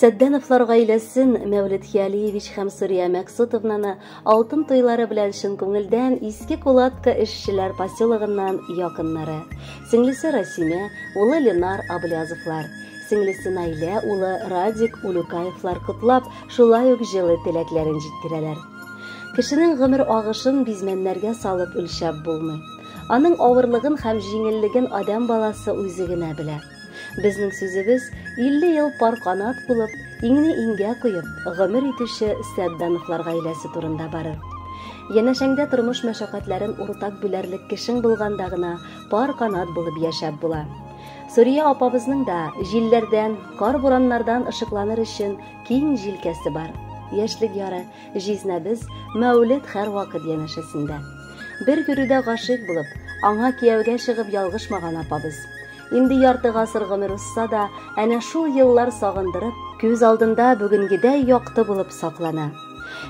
Сәддәновлар гаиләсен, Мәүлет Хиалиевич һәм Сурия Мәксутовнаны алтын туйлары белән чын күңелдән Иске Кулатка эшчеләр поселогыннан якыннары. Сеңлесе Расимә, улы Ленар Аблязовлар, сеңлесе Наилә, улы Радик Улюкаевлар котлап, шулай ук җылы теләкләрен җиткерәләр. Кешенең гомер агышын бизмәннәргә салып үлчәп булмый. Аның авырлыгын һәм җиңеллеген адәм баласы үзе генә белә. Безнең сүзебез 50 ел пар канат булып, иңне иңгә куеп, гомер итүче Сәддановлар гаиләсе турында барыр. Янәшәңдә тормыш мәшәкатьләрен уртак бүләрлек кешең булганда гына пар канат булып яшәп була. Сурия апабызның да җилләрдән, кар-бураннардан ышыкланыр өчен киң җилкәсе бар. Яшьлек яры, җизнәбез, Мәүлет һәрвакыт янәшәсендә. Бер йөрүдә гашыйк булып, аңа кияүгә чыгып ялгышмаган апабыз. Инде ярты гасыр гомер узса да, әнә шул еллар сагындырып, күз алдында бүгенгедәй якты булып саклана.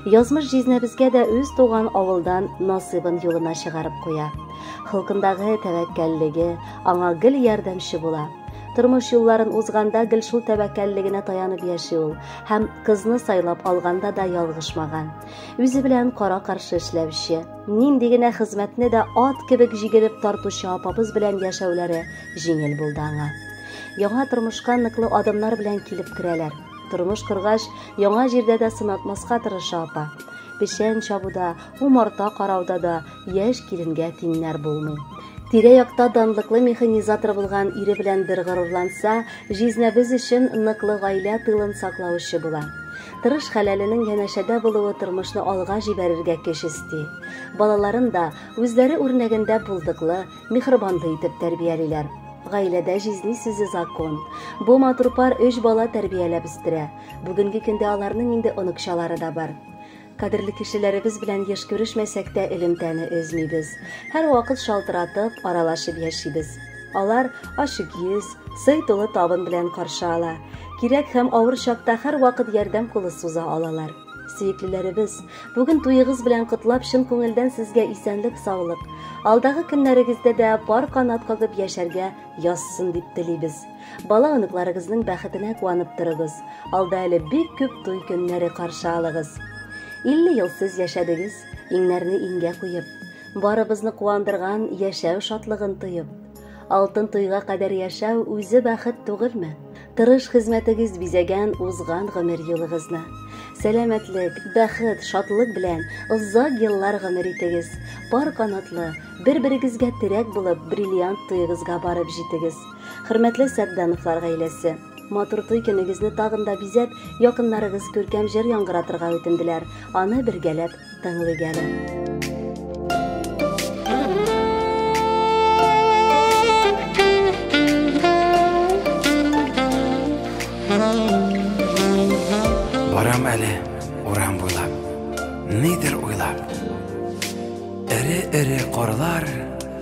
Язмыш җизнәбезгә дә үз туган авылдан насыйбын юлына чыгарып куя. Холкындагы тәвәккәллеге аңа гел ярдәмче була. Тормыш юлларын узганда гел шул тәвәккәллегенә таянып яши ул һәм кызны сайлап алганда да ялгышмаган. Үзе белән кара-каршы эшләүче, Нинди генә хезмәтне дә ат кебек җигелеп тартучы апабыз белән яшәүләре җиңел булды аңа. Яңа тормышка ныклы адымнар белән килеп керәләр. Тормыш коргач, яңа җирдә дә сынатмаска тырыша апа. Печән чабуда, умарта карауда да яшь киленгә тиңнәр булмый. Тирә-якта данлыклы механизатор булган ире белән бер горурланса, җизнәбез өчен ныклы гаилә тылын саклаучы була. Тырыш хәләленең янәшәдә булуы тормышны алга җибәрергә көч өсти. Балаларын да үзләре үрнәгендә булдыклы, михрыбанлы итеп тәрбиялиләр. Гаиләдә җизни сүзе закон. Бу матур пар өч бала тәрбияләп үстерә. Бүгенге көндә аларның инде оныкчалары да бар. Кадерле кешеләребез белән еш күрешмәсәк тә элемтәне өзмибез. Һәрвакыт шалтыратып, аралашып яшибез. Алар ачык йөз, сый тулы табын белән каршы ала. Кирәк һәм авыр чакта һәрвакыт ярдәм кулы суза алалар. Сөеклеләребез, бүген туегыз белән котлап чын күңелдән сезгә исәнлек саулык, алдагы көннәрегездә дә пар канат кагып яшәргә язсын дип телибез. Бала оныкларыгызның бәхетенә куанып торыгыз. Алда әле бик күп туй көннәре каршы алыгыз. 50 ел сез яшәдегез, иңнәрне иңгә куеп, Барыбызны куандырган яшәү шатлыгын тоеп, алтын туйга кадәр яшәү үзе бәхет түгелме? Тырыш хезмәтегез бизәгән узган гомер юлыгызны. Сәламәтлек, бәхет, шатлык белән озак еллар гомер итегез. Пар канатлы, бер-берегезгә терәк булып, бриллиант туегызга барып җитегез. Хөрмәтле Сәддановлар гаиләсе! Матур туй көнегезне тагын да бизәп, якыннарыгыз күркәм җыр яңгыратырга үтенделәр. Аны бергәләп тыңлыйк әле. Барам әле урам буйлап, нидер уйлап. Эре-эре корлар